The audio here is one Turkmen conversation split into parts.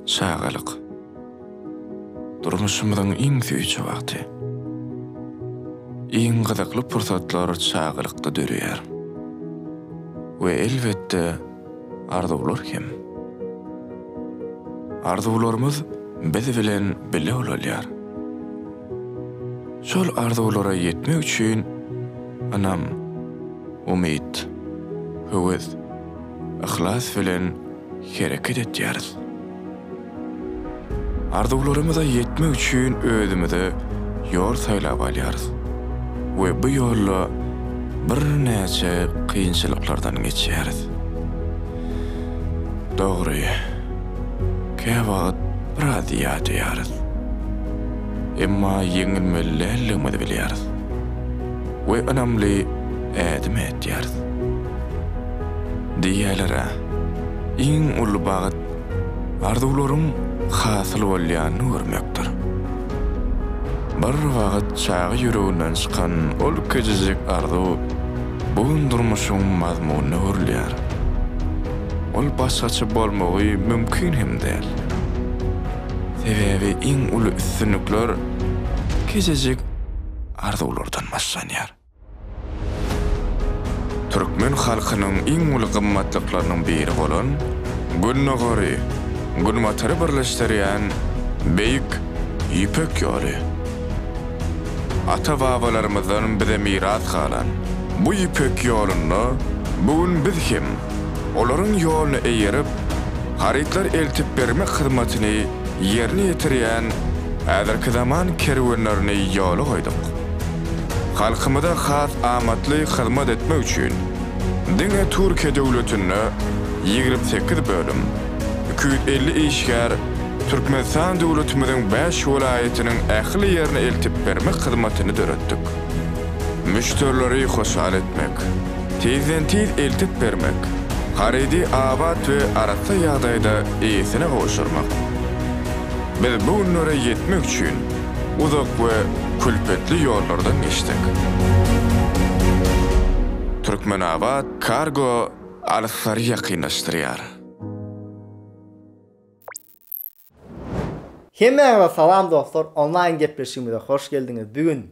Çagalyk. Durmuşymyzyň iň süýji wagty. Iň gyzykly pursatlar çagalykda döreýär. We elbetde, arzuwlar hem. Arzuwlarymyz biz bilen bile ulalýar. Şol arzuwlara ýetmek üçin ynam, umyt, höwes. yhlas bilen hereket etýäris. Arzuwlarymyza ýetmek üçin özümize ýol saýlap alýarys we bu ýolda birnäçe kynçylyklardan geçýäris. Dogry, käwagt biraz ýadýarys. Emma ýeňilmeli däldigimizi bilýäris we ynamly ädim etýäris. Diýýäler-ä, iň uly bagt arzuwlaryň hasyl bolýanyny görmekdir. Bir wagt çaga ýüreginden çykan ol kiçijik arzuw bu gün durmuşyň mazmunyna öwrülýär. Ol başgaça bolmagy mümkin hem däl. Sebäbi iň uly üstünlikler kiçijik arzuwlardan başlanýar. Türkmen halkynyň iň uly gymmatlyklarynyň biri bolan Gündogary, Günbatary birleşdirýän Beýik Ýüpek ýoly. Ata-babalarymyzdan bize miras galan bu Ýüpek ýolunda bu gün biz hem olaryň ýoluna eýerip, harytlar eltip bermek hyzmatyny ýerine ýetirýän häzirki zaman kerwenlerini ýola goýduk. Halkymyza has amatly hyzmat etmek üçin, diňe Türkiýe döwletinde ýigrimi sekiz bölüm, iki ýüz elli işgär Türkmenistan döwletimiziň bäş welaýatynyň ähli ýerine eltip bermek hyzmatyny döretdik. Müşderileri hoşal etmek, tizden-tiz eltip bermek, harydy abat we arassa ýagdaýda eýesine gowşurmak. Biz bu günlere ýetmek üçin, Uzak we külpetli ýollardan geçdik. Türkmenabat Kargo alyslyary ýakynlaşdyrýar. Hemmäňize salam dostlar, onlaýn gepleşigimize hoş geldiňiz. Bu gün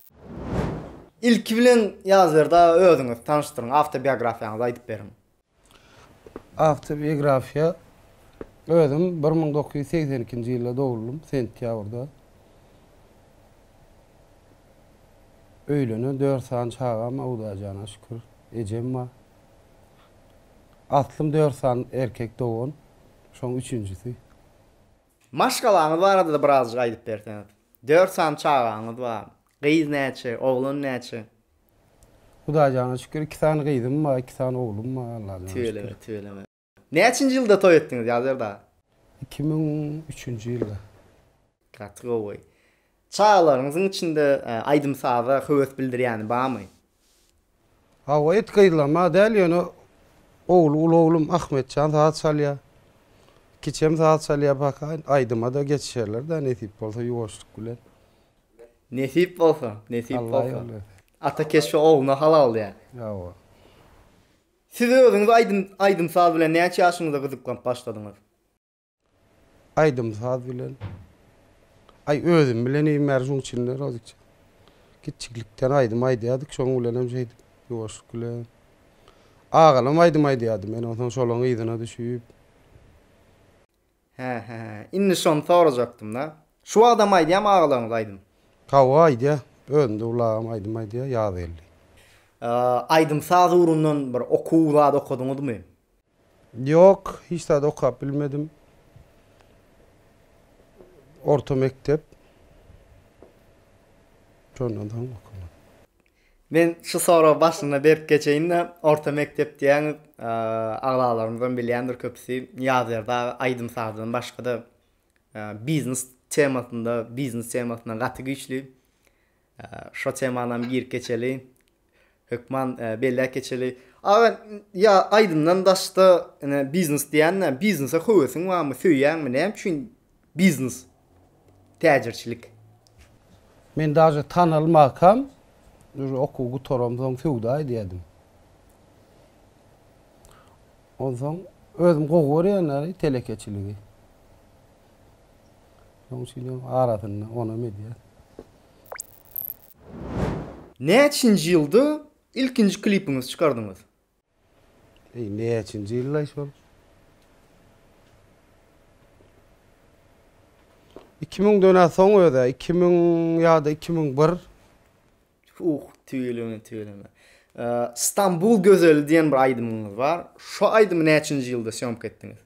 Ilki bilen Ýazberdi aga özüňizi tanyşdyryň, awtobiografiýaňyzy aýdyp beriň. Awtobiografiýa, Özüm bir müň dokuz ýüz segsen ikinji ýylda dogluldym, sentýabrda. Öýlenen, dört sany çagam, Hudaýjana şükür, ejem bar. Aslym dört sany erkek dogan, şoň üçünjisi. Maşgalaňyz barada-da birazjyk aýdyp berseňiz. Dört sany çagaňyz bar. Gyz näçe, oglan näçe? Hudaýjana şükür, iki sany gyzym bar, iki sany oglum bar, Allahjana şükür. Tüweleme, tüweleme. Näçinji ýylda toý etdiňiz, Ýazýar dagy? Iki müň üçünji ýylda. Gaty gowy. Çagalaryňyzyň içinde aýdym-saza höwes bildirýäni barmy? Hawa it gyzlama däl ýöne ogly uly oglum Ahmetjan saz çalýa. Kiçem saz çalýa pakaýyn aýdyma-da geçişerler-dä nesip bolsa ýuwaşlyk bilen. Nesip bolsa, nesip bolsa. Ata keşbe ogluna halal däl. Hawa. Siz özüňiz aýdym aýdym saz bilen näçe ýaşyňyzda gyzyklanyp başladyňyz? Aýdym-saz bilen. Aý, özüm bilen iýmän ýörün, şonuň üçin-de Rozikjan. Kiçijiklikden aýdym aýdýardyk, şonuň bilenem şeýdip, ýuwaşlyk bilen. Agalam aýdym aýdýardy, men onsoň şolaryň yzyna düşüp. Hä-hä, indi şony sorajakdym-da. Şu wagtam aýdýarmy agalaryňyz aýdym? Hawa, aýdýar. Özüm-de ulagam aýdym aýdýar, ýaz geldi. Aýdym-saz ugrundan bir okuw zady okadyňyzmy? Ýok, hiç zat okap bilmedim. Orta mekdep. Şondan soň okamadym. Men şu soragy başynda berip geçeýin-de, orta mekdep diýýäň, agzalarymyzdan bilýändir köpüsi, Ýazýar dagy aýdym-sazdan başga-da biznes temasynda, biznes temasynda gaty güýçli. Şo temanam girip geçeli. Hökman belläp geçeli. Aga ýa aýdymdan daşda ine biznes diýende biznese höwesiň barmy söýýäňmi näme üçin biznes täjirçilik. Men daže tanalmakam uje okuw gutaramsoň söwda edýädim. Onsoň özüm gowy görýän telekeçiligi. Şonuň üçin hem arasynda onam edýär. Näçinji ýylda ilkinji klipiňizi çykardyňyz? Eý näçinji ýyllaý şol? Iki müňden-ä soň öz-ä, iki müň ýa-da iki müň bir. Uh, tüweleme, tüweleme. Stambul gözeli diýen bir aýdymyňyz bar. Şo aýdymy näçinji ýylda sýomka etdiňiz?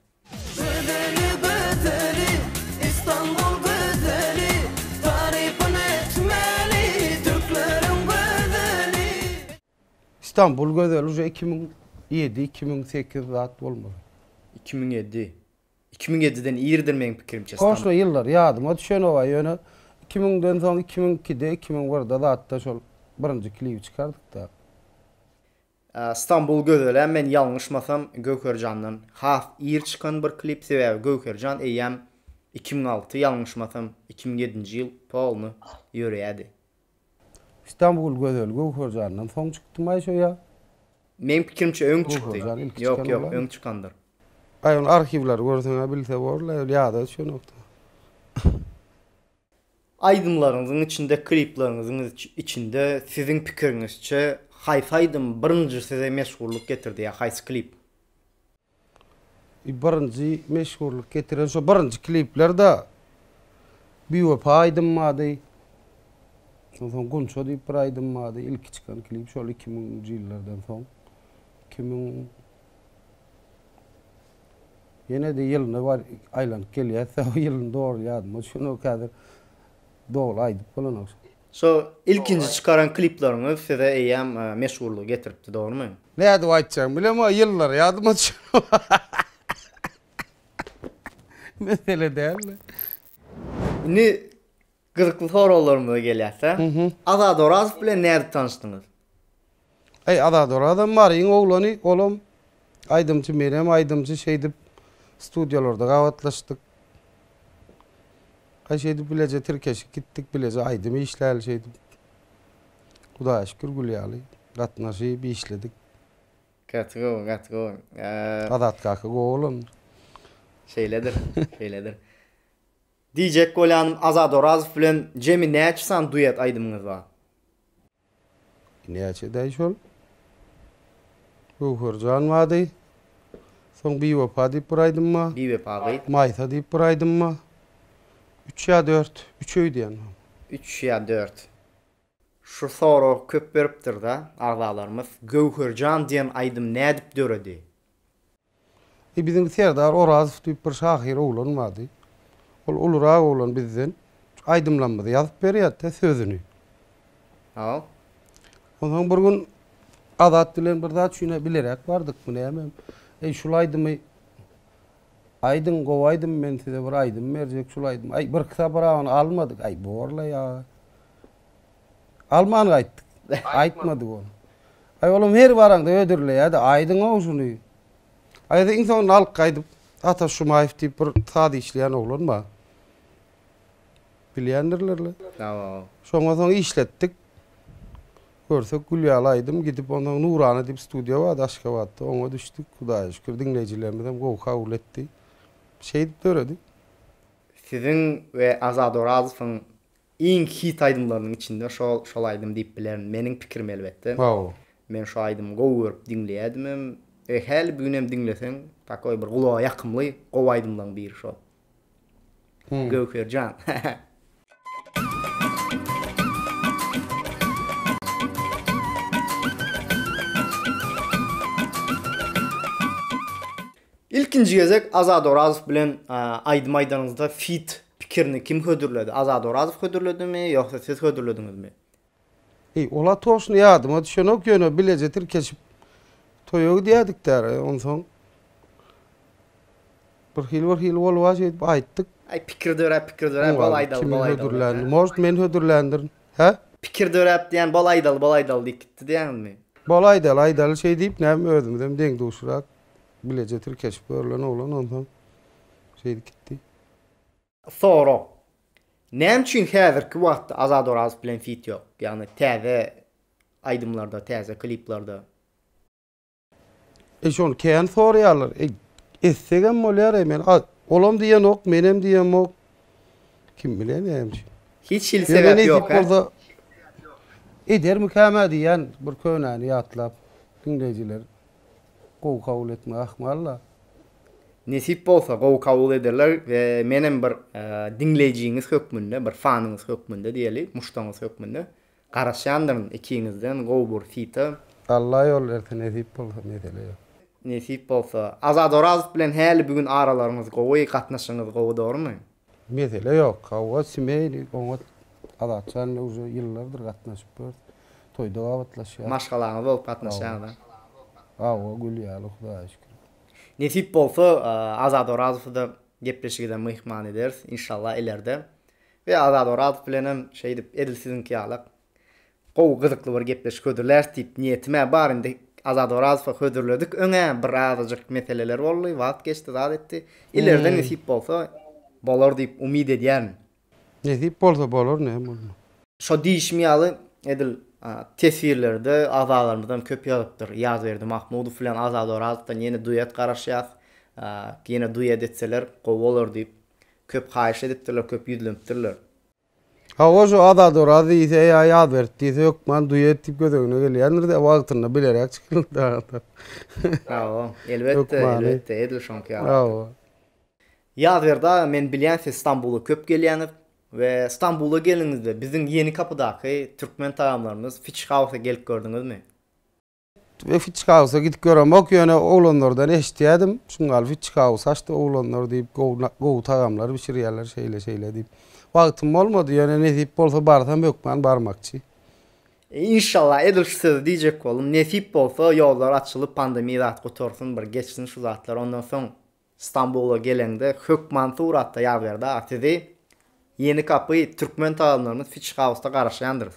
Stambul gözeli uje iki müň ýedi iki müň sekiz zat bolmaly. Iki müň ýedi. Iki müň ýediden iridir meň pikirimçe Stamb. Goşna ýyllar ýadyma düşenoga ýöne iki müňden soň iki müň ikide iki müň birde zatda şol birinji klibi çykardykda. Stambul gözelä men ýalňyşmasam Göwherjandan has ir çykan bir klip sebäbi Göwherjan eýýäm iki müň alty ýalňyşmasam iki müň ýedinji ýyl polny ýöreýädi. Stambul gözel Göwherjandan soň çykdymaý şo ýa. Meň pikirimçe öň çykdy. Ýok ýok öň çykandyr. Aý ony arhiwleri görseňä bilse borlaý ol ýada şonakda. Aýdymlaryňyzyň içinde, klipleriňiziň içinde siziň pikiriňizçe haýsy aýdym birinji size meşhurlyk getirdi ýa haýsy klip? Birinji meşhurlyk getiren şo birinji kliplerde Biwepa aýdym bardy. Onsoň Gunça diýip bir aýdym bardy. Ilki çykan klip şol iki müňünji ýyllardan soň. Iki müň Ýene-de ýylyna bar aýlanyp gelýäs-dä, o ýylyny dogry ýadyma düşenok häzir. Dogry aýdyp bolanok. Şo ilkinji çykaran klipleriňiz size eýýäm meşhurlygy getiripdi, dogrumy? Nädip aýtjagymy bilemok, ýyllary ýadyma düşenok. Mesele däl-de. Indi Gyzykly soraglarymyza gelýärse, Azat Orazow bilen nädip tanyşdyňyz? Eý, Azat Orazam Maryň oglany, olam aýdymçy, menem aýdymçy, şeýdip studiýalarda gabatlaşdyk. Aý, şeýdip bileje tirkeşip gitdik, bileje aýdym işläli şeýdip. Hudaýa şükür, gül ýaly gatnaşyp işledik. Gaty gowy, gaty gowy. Azat kaka gowy oglandyr. Şeýledir, şeýledir. Diýjek bolýanym Azat Orazow bilen jemi näçe sany duet aýdymyňyz bar? Näçedaý şol? Göwherjan bady. Soň Biwepa diýip bir aýdym bar. Biwepa gyz. Maýsa diýip bir aýdym bar. Üç ýa dört. Üç öýdýän mam. Üç ýa dört. Şu sorag köp beripdirda agzalarymyz. Göwherjan diýen aýdym nädip döredi? E, biziň Serdar Orazow diýip bir şahyr oglan bardy. Ol ulurak oglan bizden. Şu aýdymlarymyzy ýazyp berýärdi-de sözüni. Haw. Onsoň bir gün Azat bilen bir zat üçin-ä bileräk bardykmy nämem, Eý, şul aýdymy aýdyň, gowy aýdym, men size bir aýdym berjek, şul aýdym. Aý, birki sabragyny almadyk. Aý, bor-la ýa. Alman gaýtdyk. Aýtmadyk ol. Aý olam her baraňda hödürleýärdi. Aýdyň-ow şuny. Aýda iň soňunda alyp gaýdyp Ataş Jumaýew diýip bir saz işleýän oglan bar. Bilýändirler-le. Hawa. Şoňa soň işletdik. Görsek gül ýaly aýdym. Gidip onsoň Nurana diýip studiýa bardy Aşgabatda. Oňa düşdük. Hudaýa şükür diňleýjilerimizem gowy kabul etdi. Şeýdip döredi. Siziň we Azat Orazowyň Iň hit aýdymlarynyň içinde şol şol aýdym diýip bilerin meniň pikirim elbetde. Waw. Men şu aýdymy gowy görüp diňleýädimem. E häli bu günem diňleseň takoý bir gulaga ýakymly gowy aýdymlaň biri şol. Göwherjan. Ilkinji gezek Azat Orazow bilen aýdym aýdanyňyzda feat pikirini kim hödürledi? Azat Orazow hödürledimi ýogsa siz hödürlediňizmi? Eý, ol atoşny ýadyma düşenok, ýöne bileje tirkeşip toýa gidýädik däl, onsoň birhili birhili boluba şeýdip aýtdyk. Aý, pikir döräp, pikir döräp, bol aýdaly, bol aýdaly. Может, men hödürländirin. Hä? Pikir döräp diýen bol aýdaly, bol aýdaly diýip gitdi diýýäňizmi? Bol aýdaly, aýdaly şeýdip, näme özümizem deň-duşrak Bileje tirkeşip görlen oglan onsoň şeýdip gitdi. Sorag. Näme üçin häzirki wagtda Azat Orazow bilen fit ýok? Ýagny täze aýdymlarda, täze kliplarda. Eý şony kän soraýarlar. Eý etsegem bolýar eý men olam diýenok menem diýemok. Kim bilen näme üçin. Hiç hili sebäp ýok hä? Edermikäm-ä diýýän bir könäni ýatlap diňleýjiler gowy kabul etmek ahmal-la. Nesip bolsa gowy kabul ederler we menem bir diňleýjiňiz hökmünde, bir fanyňyz hökmünde diýeli, muşdaňyz hökmünde garaşýandyryn ikiňizden gowy bir hita. Alla ýol berse nesip bolsa mesele ýok. Nesip bolsa. Azat Orazow bilen häli bu gün aralaryňyz gowy, gatnaşygyňyz gowy dogrumy? Mesele ýok. Hawa, semýaly oňat. Azat jan bilen uje ýyllardyr gatnaşyp ýörüs. Toýda babatlaşýas. Maşgalaňyz bolup gatnaşýaňyz a? Hawa, gül ýaly, Hudaýa şükür. Nesip bolsa, Azat Orazowy-da gepleşigide myhman ederis, inşallah, ilerde. We Azat Orazow bilenem şeýdip, edil siziňki ýalak, Gowy gyzykly bir gepleşik hödürläs diýip niýetimä bar indi Azat Orazowa hödürledik öňä bir azajyk meseleler boldy wagt geçdi zat etdi ileride nesip bolsa bolar diýip umyt edýärin. Nesip bolsa bolar näme bolmaz. Şo diýişim ýaly edil teswirlerde agzalarymyzdan köp ýazypdyr Ýazberdi Mahmudow bilen Azat Orazowdan ýene duet garaşýas ýene duet etseler gowy bolar diýip köp haýyş edipdirler köp ýüzlenipdirler. Hawa şu Azat Oraz diýse ýa Ýazberk diýse hökman duet diýip göz öňüne gelýändir-de wagtynda bileräk çykylypdy agatlar. Hawa, elbetde, elbetde, edil şoňky ýaly. Hawa. Ýazberdi aga men bilýän siz Stambula köp gelýäňiz we Stambula geldiňizde biziň Ýeni Kapydaky türkmen tagamlarymyz Fiçi Hausa gelip gördüňizmi? Ve Fiçkausa gidip göremok, ýöne oglanlardan eşitýädim. Şun gal Fiçkaus açdy oglanlar diýip, gowy gowy tagamlar bişirýärler şeýle-şeýle diýip. Wagtym bolmady, ýöne nesip bolsa barsam hökman barmakçy. Inşallah edil şu sözi diýjek boldum. Nesip bolsa ýollar açylyp pandemiýa zat gutarsyn bir geçsin şu zatlar ondan soň Stambula geleňde hökman suratda ýazyber daga sizi Ýeni Gapy türkmen tagamlarymyz Fiçkausda garaşýandyrys.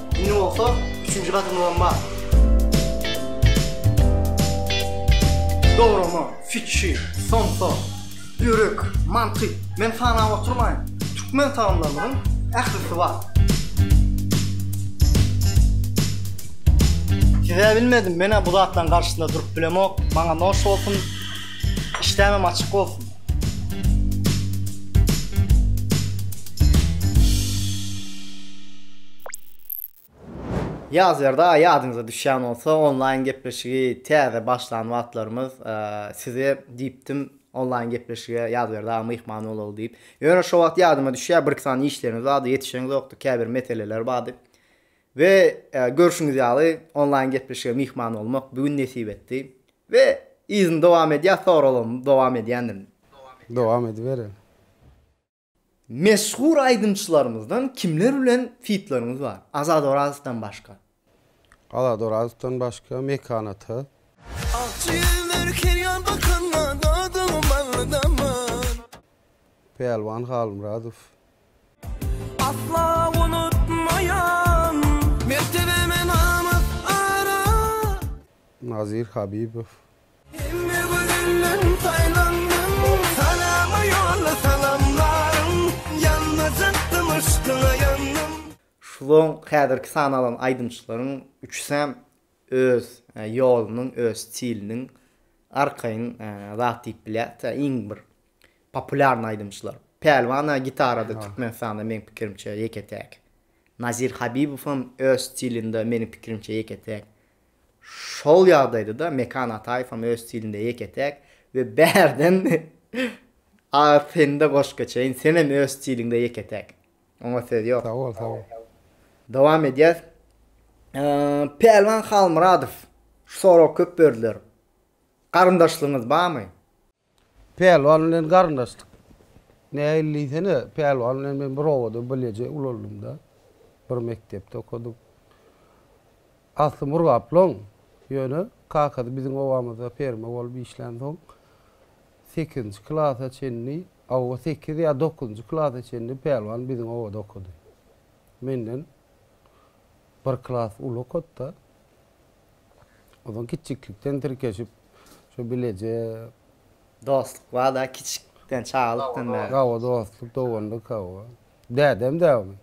Indi bolsa üçünji gadymyzam bar. Dograma, fikir, somsa, ýürek, mantyk, men sanap oturmaýyn. Türkmen tagamlarynyň ählisi bar. Siz-ä bilmedim, men-ä bu zatlaryň garşysynda durup bilemok. Maňa noş bolsun, işdämem açyk bolsun. Ýazýarda ýadyňyza düşýän bolsa onlaýn gepleşigi täze başlan wagtlarymyz size diýipdim onlaýn gepleşige ýazýarda myhman bolaly diýip. Ýöne şo wagt ýadyma düşýär bir iki sany işlerimiz bardy ýetişeňzokdy käbir meseleler bardy. We görşüňiz ýaly onlaýn gepleşige myhman bolmak bu gün nesip etdi. We yzyny dowam edýär soraglarymy dowam edýändirin. Dowam ediberiň. Meşhur aýdymçylarymyzdan kimler bilen fitleriňiz bar? Azat Orazowdan başga. Azat Orazowdan başga Mekan ata. Ak jigimler her ýan bakanda Dadyň bally daman. Pälwan Halmyradow Asla unutmaýan mertebeme namys arar. Nazir Habibow. Hemme gözelden saýlandym. Salama ýolla salamlarym. Ýanmajak-dym yşkyňa ýandym. Şuzoň häzirki sany alan aýdymçylaryň üçüsem öz ýolunyň, öz stiliniň arkaýyn zat diýip bilýäris. Iň bir Populýarny aýdymçylar. Pälwan-a gitarada Türkmenistanda meň pikirimçe ýeke-täk. Nazir Habibowam öz stilinde meniň pikirimçe ýeke-täk. Şol ýagdaýda-da Mekan Ataýewem öz stilinde ýeke-täk we bärden agyr sende goşup geçeýin, senem öz stiliňde ýeke-täk. Oňa söz ýok. Sag bol, sag bol. Dowam edýäs. Pälwan Halmyradow şu soragy köp berdiler. Garyndaşlygyňyz barmy? Pälwan bilen garyndaşdyk. Nähili diýsene, Pälwan bilen men bir obada bileje ulalymda, bir mekdepde okadyk. Asly Murgaplyň, ýöne kakasy biziň obamyzda ferma bolup işlänsoň, sekizinji klasa çenli, hawa, sekiz ýa dokuzynjy klasa çenli Pälwan biziň obada okady. Menden bir klas uly okady-da. Ozal kiçjiklikden tirkeşip, şu bileje. Dostluk bar-da kiçikden, çagalykdan bäri. Hawa, dostluk, doganlyk, hawa. Dädem däwmi?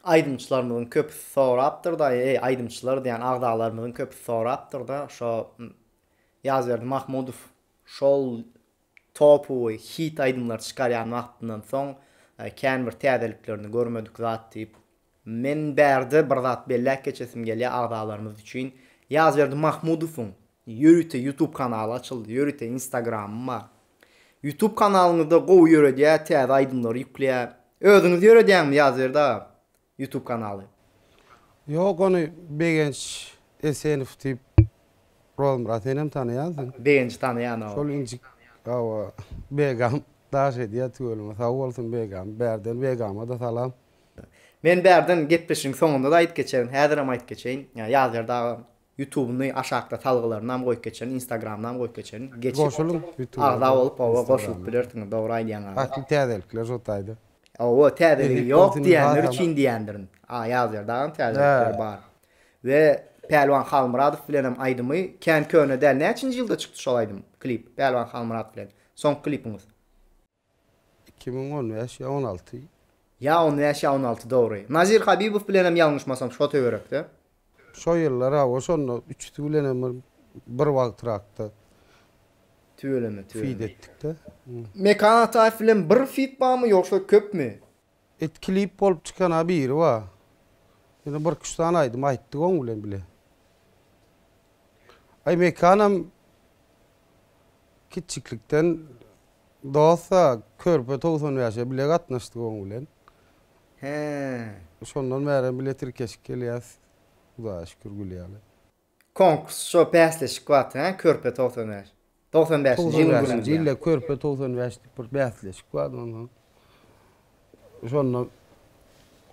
Aýdymçylarymyzyň köpüsi sorapdyr-da, eý, aýdymçylar diýýän agzalarymyzyň köpüsi sorapdyr-da, şo Ýazberdi Mahmudow şol topowy hit aýdymlary çykarýan wagtyndan soň kän bir täzeliklerini görmedik zat diýip, Men bärde bir zat belläp geçesim gelýär agzalarymyz üçin. Ýazberdi Mahmudowyň ýörite YouTube kanaly açyldy, ýörite Instagramy bar. YouTube kanalyňyzda gowy ýöredýär, täze aýdymlary ýükleýär. Özüňiz ýöredýäňmi Ýazberdi aga YouTube kanaly? Ýok ony Begenç Esenow diýip Rozmyrat senem tanaýansyň. Begenji tanaýan hawa. Şol injik hawa Begam daş edýär tüweleme sag bolsun Begam bärden Begama-da salam. Men bärden gepleşigiň soňunda-da aýdyp geçerin, häzirem aýdyp geçeýin, Ýazýar dagy Ýutubyny aşakda salgylarynam goýup geçerin, Instagramynam goýup geçerin, geçip agza bolup oba goşulyp bilersiňiz, dogry aýdýaň aga. Ähli täzelikler şo taýda. Hawa, täzeligi ýok diýenler üçin diýendirin. A Ýazýar dagam täzelikleri bar. We Pälwan Halmyradow bilenem aýdymy kän köne däl. Näçinji ýylda çykdy şol aýdym, klip? Pälwan Halmyrat bilen soňky klipiňiz. Iki müň on bäş ýa on alty. Ýa on bäş ýa on alty dogry. Nazir Habibow bilenem ýalňyşmasam şo töwerekde. Şo ýyllar hawa şonda üçüsi bilenem bir bir wagtrakda Tüweleme tüweleme. feat etdikde. Mekan Ataýew bilen bir feat barmy ýogsa köpmi? Et klip bolup çykana biri bar. Ýöne bir iki üç sany aýdym aýtdyk oň bilen bile. Aý Mekanam kiçjiklikden dosta körpe togsan bäşe bile gatnaşdyk oň bilen. He. Şondan bärem bile tirkeşip gelýäs Hudaýa şükür gül ýaly. Konkurs şo bäsleşik wagty he körpe togsan bäş. Togsan bäşinji ýylyň Togsan bäş gününde ýa. diýilde körpe togsan bäş diýip bir bäsleşik bardy onsoň şonda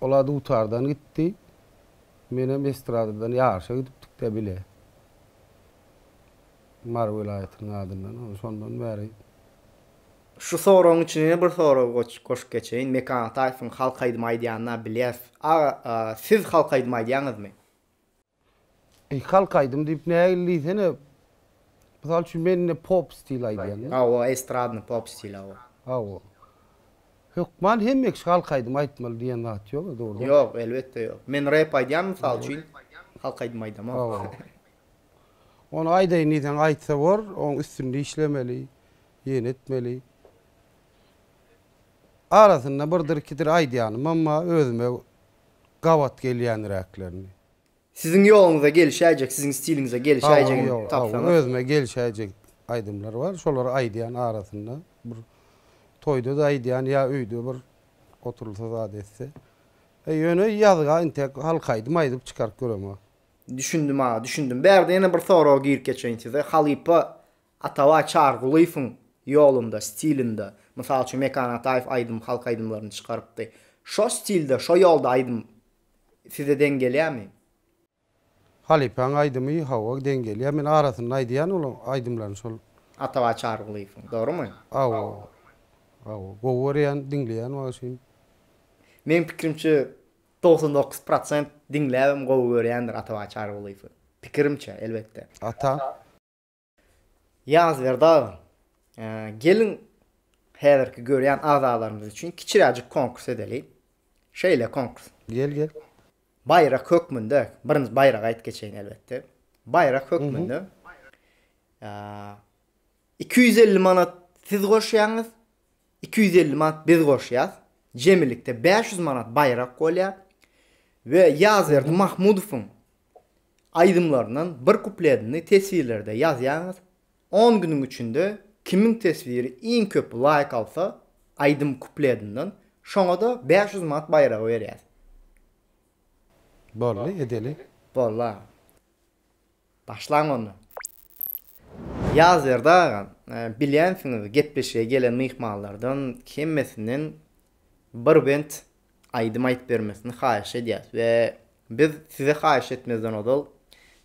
olar dutardan gitdi menem estradadan ýaryşa gidipdikdä bile Mary welaýatynyň adyndan ony şondan bäri Şu soragyň içine ýene bir sorag goşup geçeýin Mekan Ataýewiň halk aýdymy aýdýanyny bilýäs aga siz halk aýdymy aýdýaňyzmy? Eý, halk aýdymy diýip nägile diýsene. Mysal üçin, men indi pop stil aýdýan. Hawa, estradny pop stil, hawa. Hawa. Hökman hemme kişi halk aýdymy aýtmaly diýen zat ýok-a, dogrumy? Ýok, elbetde ýok. Men rep aýdýan, mysal üçin, halk aýdymy aýdamok. Hawa. Ony aýdaýyn diýseň aýtsa bor, oň üstünde işlemeli, ýene etmeli. Arasynda birdir-ikidir aýdýanymam bar, özüme gabat gelýänräklerini. Siziň ýoluňyza gelişäýjek, siziň stiliňize gelişäýjegini tapsaňyz. Özüme gelişäýjek aýdymlar bar. Şolary aýdýan arasynda bir toýda-da aýdýan ýa öýde bir oturylsa zat etse. Ýöne ýazga intek halk aýdym aýdyp çykaryp göremok. Düşündim aga, düşündim. Bärde ýene bir sorag girip geçeýin size. Halypa Atabaý Çarygulyýewiň ýolunda, stilinde, mysal üçin Mekan Ataýew aýdym, halk aýdymlaryny çykarypdy. Şo stilde, şo ýolda aýdym size deň gelýärmi? Halypaň aýdymy hawa deň gelýär. Men arasynda aýdýan ol aýdymlaryny şol. Atabaý Çarygulyýewiň, dogrumy? Hawa. Hawa. Gowy görýän, diňleýän wagşym. Meň pikirimçe togsan dokuz prosent diňläbem gowy görýändir Atabaý Çarygulyýewi. Pikirimçe, elbetde. Ata. Ýazberdi aga, geliň häzirki görýän agzalarymyz üçin kiçiräjik konkurs edeliň. Şeýle konkurs. Gel gel. Baýrak hökmünde, birinji baýragy aýt geçeýin elbetde. Baýrak hökmünde iki ýüz elli manat siz goşýaňyz, iki ýüz elli manat biz goşýas. Jemilikde bäş ýüz manat baýrak bolýar. We Ýazberdi Mahmudowyň aýdymlaryndan bir kupledini teswirlerde ýazýaňyz, on günüň içinde kimiň teswiri iň köp laýk alsa aýdym kupledinden şoňada bäş ýüz manat baýragy berýäs. Boldy edeli. Boldy agam. Başlaň onda. Ýazberdi agam, bilýänsiňiz gepleşige gelen myhmanlardan hemmesinden bir bent aýdym aýyp bermesini haýyş edýäs we biz size haýyş etmezden ozal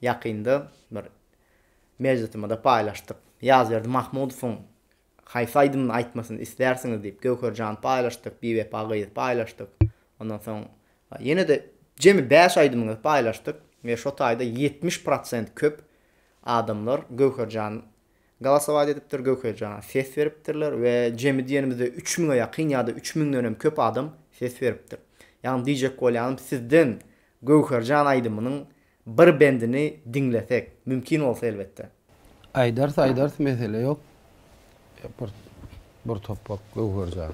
ýakynda bir mejlisimizde paýlaşdyk. Ýazberdi Mahmudowyň haýsy aýdymyny aýtmasyny islärsiňiz diýip Göwherjany paýlaşdyk, Biwepa gyzy paýlaşdyk. Ondan soň ýene-de jemi bäş aýdymyňyzy paýlaşdyk we şo taýda ýetmiş prosent köp adamlar Göwherjan Galasowaýda edipdir Göwherjana, ses beripdirler we jemi diýenimizde üç müňe ýakyn ýa-da üç müňden hem köp adam ses beripdir. Ýagny diýjek bolýanym sizden Göwherjan aýdymynyň bir bendini diňlesek, mümkin bolsa elbetde. Aýdarys aýdarys mesele ýok. Bir bir topbak Göwherjan.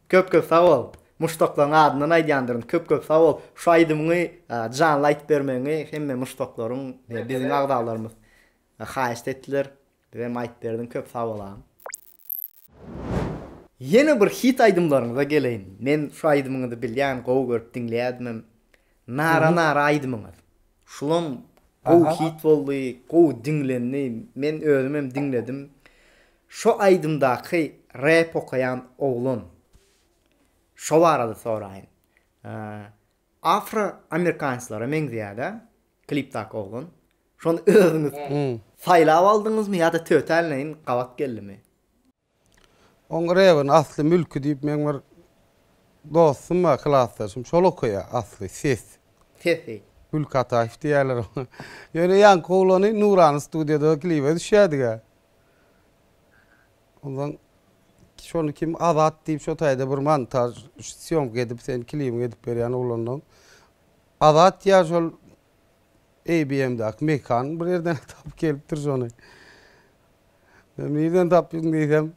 Köp köp sag bol! Muşdaklaryň adyndan aýdýandyryn. Köp köp sag bol! Şu aýdymyňy janly aýdyp bermegiňi hemme muşdaklaryň we biziň agzalarymyz haýyşt etdiler. Biz hem aýdyp berdiň. Köp sag bol agam! Ýene bir hit aýdymlaryňyza geleýin. Men şu aýdymyňyzy bilýän, gowy görüp diňleýädimem. Nara nara aýdymyňyz. Şulam gowy hit boldy, gowy diňlendi. Men özümem diňledim. Şo aýdymdaky rep okaýan oglan şo barada soraýyn. Afro amerikanslara meňzeýäda klipdaky oglan. Şony özüňiz saýlap aldyňyzmy ýa-da tötänleýin gabat geldimi? Oň rebini Asly Mülki diýip meň bir dostum bar klasdaşym şol okaýa Asly ses. Sesi. Gülki Ataýew diýýäler oňa. Ýöne ýaňky oglany Nurany studiýada klibe düşýädiga. Ondan şony kim azat diýip şo taýda bir montaj syýomka edip sen klibiňi edip berýän oglandan azat ýa şol ABM-däki mekan bir ýerden tapyp gelipdir şony. Men nirden tapdym diýsem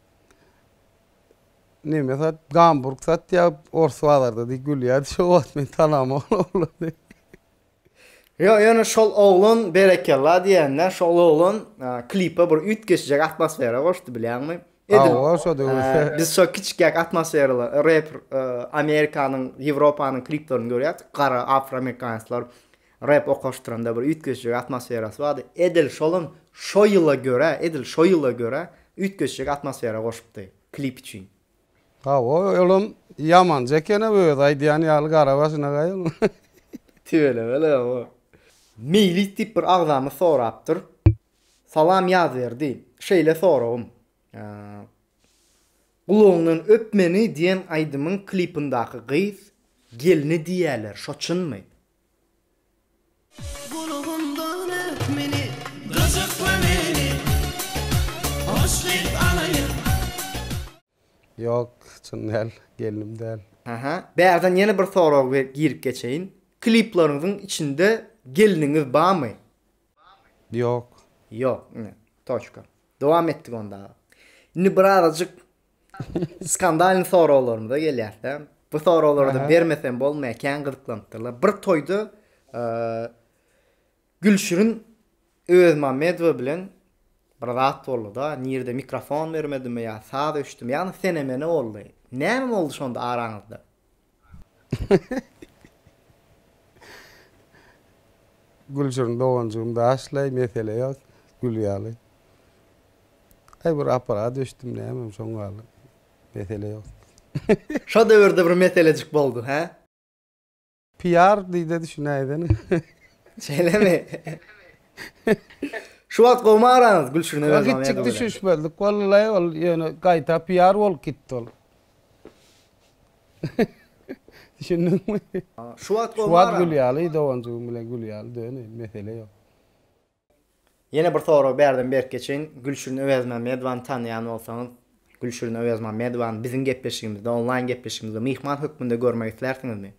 neme sat gamburg satýar ors bazarda diýip gülýärdi şo wagt men tanamok ol oglany. Ýok ýöne şol oglan berekella diýende şol oglan klipe bir üýtgeşje atmosfera goşdy bilýäňmi? Edil biz şo kiçikek atmosferaly rep Amerikanyň Ýewropanyň kliplerini görýäs gara afroamerikanslar rep okaşdyranda bir üýtgeşje atmosferasy bardy edil şolam şo ýyla görä edil şo ýyla görä üýtgeşje atmosfera goşupdy klip üçin. Hawa, olam ýamanjy eken-ä özi aýdýan ýaly gara başynagaý onuň. Tüweleme-le, hawa. Meýlis diýip bir agzamyz sorapdyr. Salam Ýazberdi. Şeýle soragym. Gulagyňdan öp meni diýen aýdymyň klipindaky gyz gelni diýýäler, şo çynmy? Gulagymdan öp meni, gyjykla meni, hoş gyz alaýyn. Ýok, çyn däl, gelnim däl. Aha, bärden ýene bir sorag girip geçeýin. Klipleriňiziň içinde gelniňiz barmy? Ýok. Ýok, ine, toçka. Dowam etdik onda. Indi birazajyk Skandalny soraglarymyza gelýärse, bu soraglarda bermesem bolmaýar, kän gyzyklanypdyrlar. Bir toýda Gülşirin Özmamedowa bilen bir zat boldy-da, nirede mikrofon bermedimi ýa saz öçdümi, ýagny sene-mene boldy. Näme boldy şonda araňyzda? Gülşirin doganjygym daşlaý mesele ýok gül ýaly. Aý bir aparat öçdüm nämem şoň ýaly mesele ýok. Şo döwürde bir meselejik boldy hä. Piýar diýde düşünäýsene. Şeýlemi? Şu wagt gowmy araňyz Gülşirine öz Ýok, itjik düşünişmezlik boldy laý ol ýöne gaýta piýar bolup gitdi ol. Düşündiňmi? Şu wagt Şu wagt gül ýaly doganjygym bilen gül ýaly döne, mesele ýok. Ýene bir sorag bärden berk geçeýin. Gülşirin Öwezmämmedowany tanýan bolsaňyz, Gülşirin Öwezmämmedowany biziň gepleşigimizde, onlaýn gepleşigimizde myhman hökmünde görmek islärsiňizmi?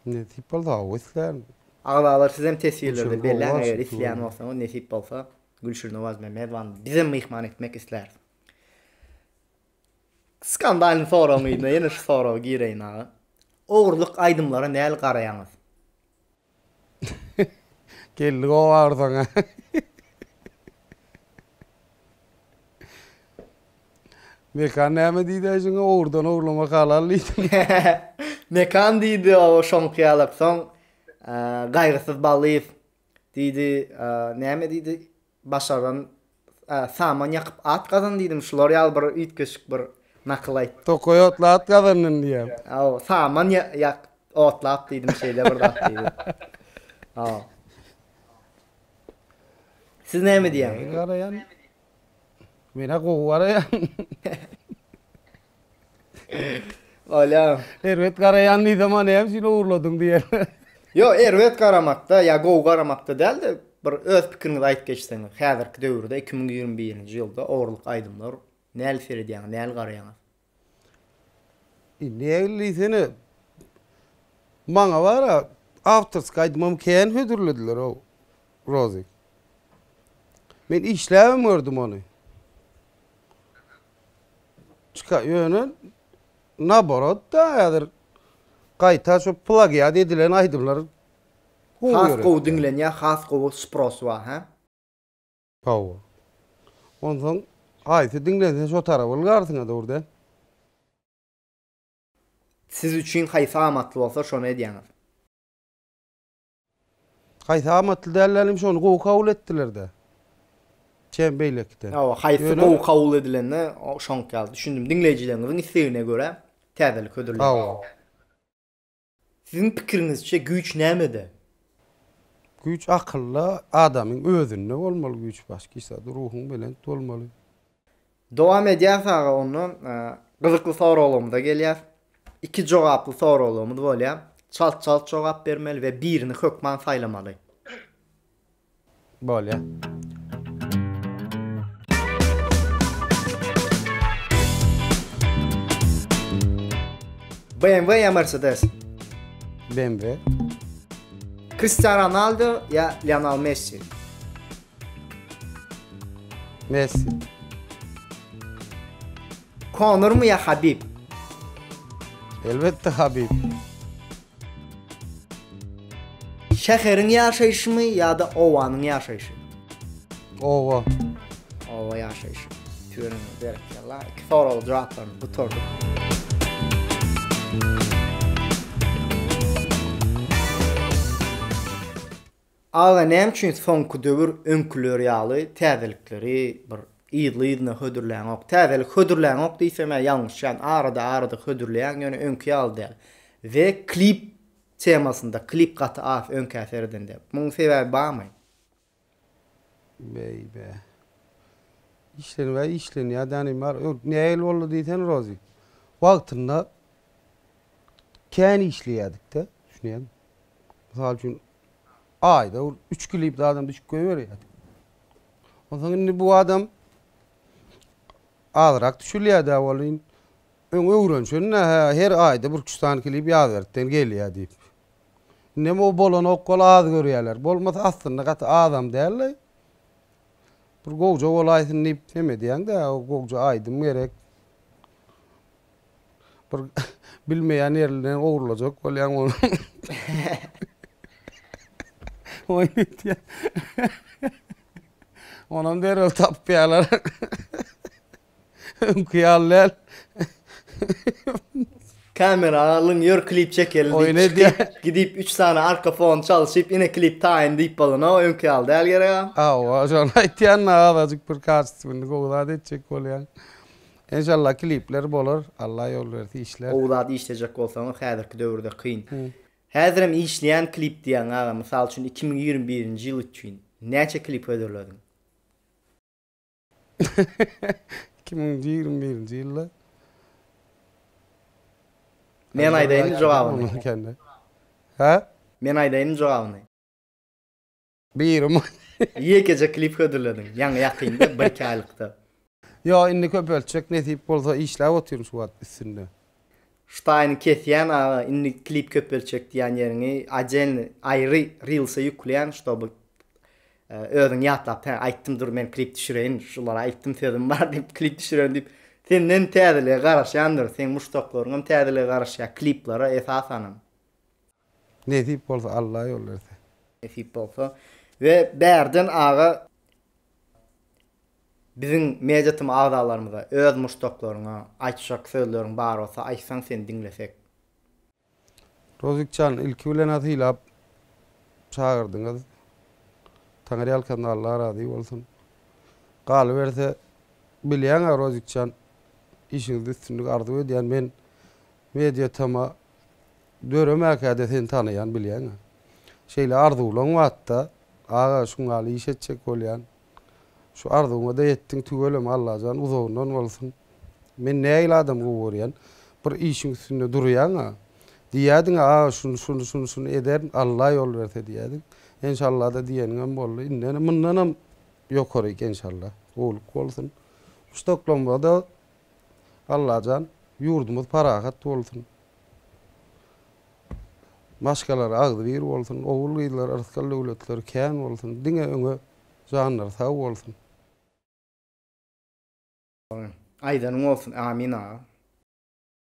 Nesip bolsa hawa islärin. Agzalar sizem teswirlerde belläň eger isleýän bolsaňyz nesip bolsa Gülşirin Öwezmämmedowany bizem myhman etmek isläris. Skandalyň soragynyň yzyna ýene şu soragy gireýin aga. Ogurlyk aýdymlara näl garaýaňyz? Geldi gowy agyrsaň a. Mekan näme diýdi aýşyňa ogurdan ogurlamak halal diýdimi. Mekan diýdi o şoňky ýalak soň Gaýgysyz Ballyýew diýdi näme diýdi Başaran saman ýakyp at gazan diýdim şular ýaly bir üýtgeşik bir nakyl aýt. Tokaý otly at gazandym diýýär. Hawa saman ýak otlap diýdim şeýle bir zat diýdi. Hawa. Siz näme diýýäňiz? Garaýan. Men-ä gowy garaýan. Olýa. Erbet garaýan nizama näme üçin ogurladyň diýer. Ýok, erbet garamakda ýa gowy garamakda däl-de, bir öz pikiriňizi aýdyp geçseňiz, häzirki döwürde iki müň ýigrimi birinji ýylda ogurlyk aýdymlar näl seredýäňiz, näl garaýaňyz? E, nägil diýsene, maňa bar-a, awtorskiý aýdymam kän hödürlediler-ow, Rozik. Men işläbem gördüm ony. Çyka ýöne naborot da häzir gaýta şu plagiat edilen aýdymlar gowy Has ýöretýär. gowy diňlenýär has gowy spros bar hä. Hawa. Onsoň haýsy diňlense şo tarap ylgarsyňa dur dä. Siz üçin haýsy amatly bolsa şony edýäňiz. Haýsy amatly dällerem şony gowy kabul etdiler-dä. Çem beýlekiden. Hawa, haýsy gowy kabul edilende şoňk ýaly düşündim. Diňleýjileriňiziň islegine görä täzelik hödürleýin. Hawa. Siziň pikiriňizçe güýç nämede? Güýç akylda, adamyň özünde bolmaly güýç başki zat. Ruhuň belent bolmaly. Dowam edýäs aga ondan gyzykly soraglygymyza gelýäs. Iki jogaply soraglygymyz bolýar. Çalt çalt jogap bermeli we birini hökman saýlamaly. Bolýar. BMW ya Mercedes? BMW. Cristiano Ronaldo ya Lionel Messi? Messi. Konormy ýa Habib? Elbetde Habib. Şäheriň ýaşaýşymy ýa-da obanyň ýaşaýşy? Oba. Oba ýaşaýşy. Türen berekella. Iki soragyň jogaplaryny gutardyk. Aga näme üçin soňky döwür öňküler ýaly täzelikleri bir yzly-yzyna hödürläňok? Täzelik hödürläňok diýsemä ýalňyşýan, arada-arada hödürleýäň ýöne öňki ýaly däl. We klip temasynda klip gaty az öňkä seredende. Munuň sebäbi barmy? Beýbä. Işlenibä işlenýär dänim bar. Öň nähili boldy diýsene Rozy. Wagtynda kän işleýädik-de, düşünýäňmi? Mysal üçin Aýda bir üç klip zadam düşüp goýberýärdi. Onsoň indi bu adam azrak düşülýär-dä welin, öň öwrenişen-dä, hä, her aýda bir-iki-üç sany klip ýazberkden gelýär diýip. Indem o bolany okgal az görýärler. Bolmasa aslynda gaty azam däldi. Bir gowja bolaýsyn diýip, näme edýäň-dä, gowja aýdym gerek. Bir bilmeýän ýerinden ogurlajak bolýaň ony. Oýun etýär. Onam derrew tapýarlar. Öňki ýaly däl. Kamera alyň ýör klip çekeli diýip Oýun edýär. çykyp, gidip 3 sany arka fon çalşyp ine klip taýyn diýip bolana öňki ýaly däl gerek-ä. Hawa, şony aýtýan-da azajyk bir kaçysyny göwzat etjek bolýaň. Enşalla klipler bolar Alla ýol berse işler. Gowy zat işlejek bolsaňyz häzirki döwürde kyn. Häzirem işleýän klip diýýäň aga mysal üçin iki müň ýigrimi birinji ýyl üçin näçe klip hödürlediň? Iki müň ýigrimi birinji ýylda. Men aýdaýynmy jogabyny? Hä? Men aýdaýynmy jogabyny? Biri man. Ýekeje klip hödürlediň. Ýaňy ýakynda birki aýlykda. Ýok indi köpeltjek nesip bolsa işläp otyryn şu wagt üstünde. Ştaýny kesýän aga indi klip köpeltjek diýän ýeriňi odelny aýry rilsa ýükleýän ştoby özüň ýatlap hä aýtdym dur men klip düşüreýin şulara aýtdym sözüm bar diýip klip düşürerin diýip senden täzelige garaşýandyr seň muşdaklaryňam täzelige garaşýar kliplere esasanam. Nesip bolsa Alla ýol berse. Nesip bolsa we bärden aga biziň media tym agzalarymyza öz muşdaklaryňa aýtjak sözleriň bar bolsa aýtsaň seni diňlesek. Rozikjan ilki bilenä sylap çagyrdyňyz Taňyrýalkasyn Alla razy bolsun. Galyberse bilýäňä Rozikjan işiňizde üstünlik arzuw edýän men media tyma Döremäkä-de seni tanaýan, bilýän-ä. Şeýle arzuwlaň wagtda, aga, şuň ýaly iş etjek bolýan. Şu arzuwyňa-da ýetdiň, tüweleme, Allajan uzagyndan bolsun. Men nähili adam gowy görýän. Bir işiň üstünde durýaň-a. Diýýädiň-ä, aga, şuny, şuny, şuny, şuny ederin, Alla ýol berse diýýädiň. Enşalla-da diýeniňem boldy. Indem, mundanam ýokaryk enşalla. Gowulyk bolsun. Muşdaklama-da Allajan ýurdumyz parahat bolsun. Maşgalar agzybir bolsun, ogul gyzlar yrsgal döwletleri kän bolsun, diňe öňe janlary sag bolsun. Aýdanyň bolsun Amin aga.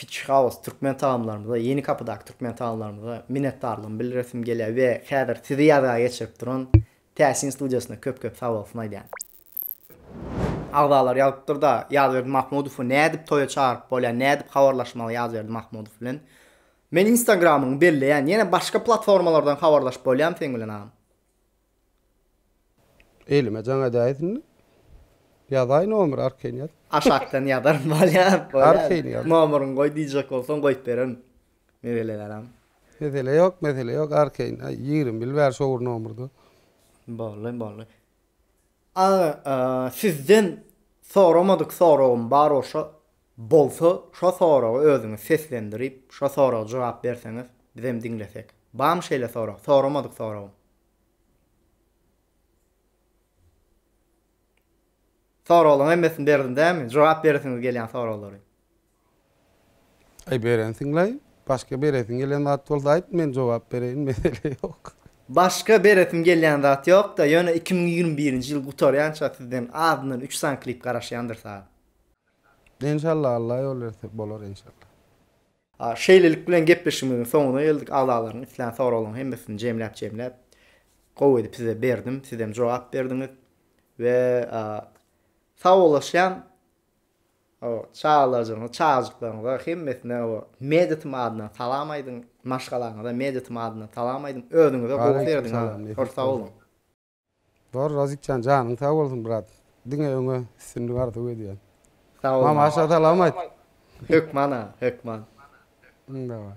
Fitch House türkmen tagamlarymyza, Ýeni Kapydaky türkmen tagamlarymyza minnetdarlygymy bildiresim gelýär we häzir sizi ýazga geçirip duran Täsin studiýasyna köp-köp sabolsun aýdýan. Agzalar ýazypdyr-da, Ýazberdi Mahmudowy nädip toýa çagyryp bolýar, nädip habarlaşmaly Ýazberdi Mahmudow bilen? Men instagramyňy belleýän, ýene başga platformalardan habarlaşyp bolýamy seň bilen agam? Elime jaň edäýs indi. Ýazaý nomer arkaýyn ýaz. Aşakdan ýazaryn bolýar. Arkaýyn ýaz. Nomeryňy goý diýjek bolsaň goýup bererin. Mesele dälem. Mesele ýok mesele ýok arkaýyn ýigrimi bil bäri şo bir nomerda. Boldy boldy. Aga sizden soramadyk soragym bar oşa bolsa şo soragy özüňiz seslendirip şo soraga jogap berseňiz bizem diňlesek bamy şeýle sorag soramadyk soragym. Soraglaň hemmesini berdim dämi jogap beresiňiz gelýän soraglary. Aý berensiňlaý, başga beresiň gelen zat bolsa aýt men jogap bereýin mesele ýok. Başga beresim gelýän zat ýokda ýöne iki müň ýigrimi birinji ýyl gutarýança sizden azyndan üç sany klip garaşýandyr saz. Enşalla Alla ýol berse bolar enşalla. Şeýlelik bilen gepleşigimiziň soňuna geldik. Agzalaryň islän soraglaryň hemmesini jemläp jemläp gowy edip size berdim. Sizem jogap berdiňiz we sagbollaşýan. O çagalajygyňyza, çagajyklaryňyza hemmesine o Meditim adyndan salam aýdyň. Maşgalaňyza Meditim adyndan salam aýdyň. Özüňize gowy serediň ha. Köp sag boluň. Dogry Razikjan janyň sag bolsun brat diňe öňe üstünlik arzuw edýän. Sag bol. Mamaşa salam aýt. Hökman a hökman. Daway.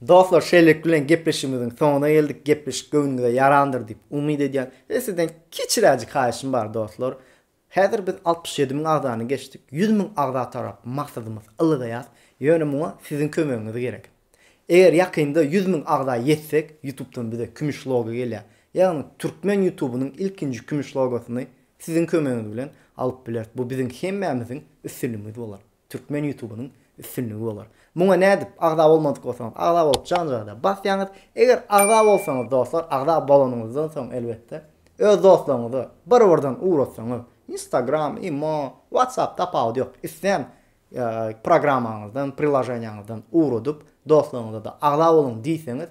Dostlar şeýlelik bilen gepleşigimiziň soňuna geldik. Gepleşik göwnüňize ýarandyr diýip umyt edýän. Sizden kiçiräjik haýyşym bar dostlar. Häzir biz altmyş ýedi müň agzany geçdik, ýüz müň agza tarap maksadymyz ylgaýas, ýöne muňa siziň kömegiňiz gerek. Eger ýakynda ýüz müň agza ýetsek, ýutubdan bize kümüş logo gelýär. Ýagny türkmen ýutubynyň ilkinji kümüş logosyny siziň kömegiňiz bilen alyp bileris. Bu biziň hemmämiziň üstünligimiz bolar. Türkmen ýutubynyň üstünligi bolar. Muňa nädip agza bolmadyk bolsaňyz agza bolup janrada basýaňyz. Eger agza bolsaňyz dostlar agza bolanyňyzdan soň elbetde öz dostlaryňyza bir birden ugratsaňyz instagram, imo, whatsapp tapawudy ýok islän programmaňyzdan prilaženiýaňyzdan ugradyp dostlaryňyzada agza boluň diýseňiz